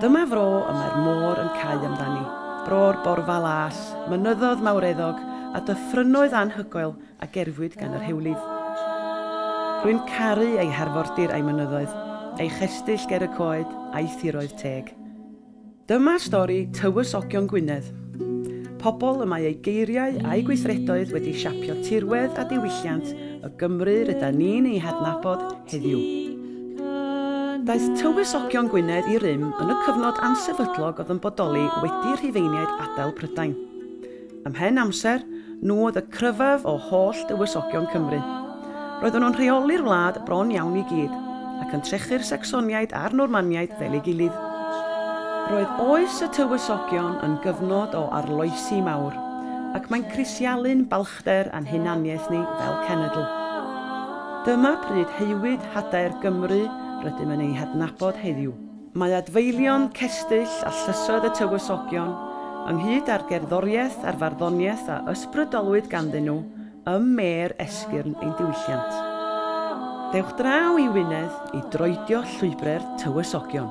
Dyma fro y mae'r môr yn cau amdani, bro'r borfa las, mynyddodd mawreddog, a dyffrynnoedd anhygoel a gerfwyd gan yr hewlydd. Rwy'n caru ei harfordir a'i mynyddoedd, ei chestyll ger y coed, a'i thiroedd teg. Dyma stori Tywysogion Gwynedd, pobl y mae eu geiriau a'u gweithredoedd wedi siapio tirwedd a diwylliant y Gymru rydan ni'n ei hadnabod heddiw. Daeth Tywysogion Gwynedd i rym yn y cyfnod ansefydlog oedd yn bodoli wedi Rhufeiniaid adael Prydain. Ymhen amser, nhw oedd y cryfaf o holl dywysogion Cymru. Roedden nhw'n rheoli'r wlad bron iawn i gyd, ac yn trechu'r Sacsoniaid a'r Normaniaid fel ei gilydd. Roedd oes y Tywysogion yn gyfnod o arloesi mawr, ac mae'n crisialu'n carchder a'n hunaniaeth ni fel cenedl. Dyma pryd haewyd hadaer Gymru rydym yn ei hadnabod heddiw. Mae adfeilion, cestyll a llysoedd y Tywysogion, ynghyd â'r gerddoriaeth a'r farddoniaeth a ysbrydolwyd ganddyn nhw ym mêr esgyrn ein diwylliant. Dewch draw i Wynedd i droedio llwybre'r Tywysogion.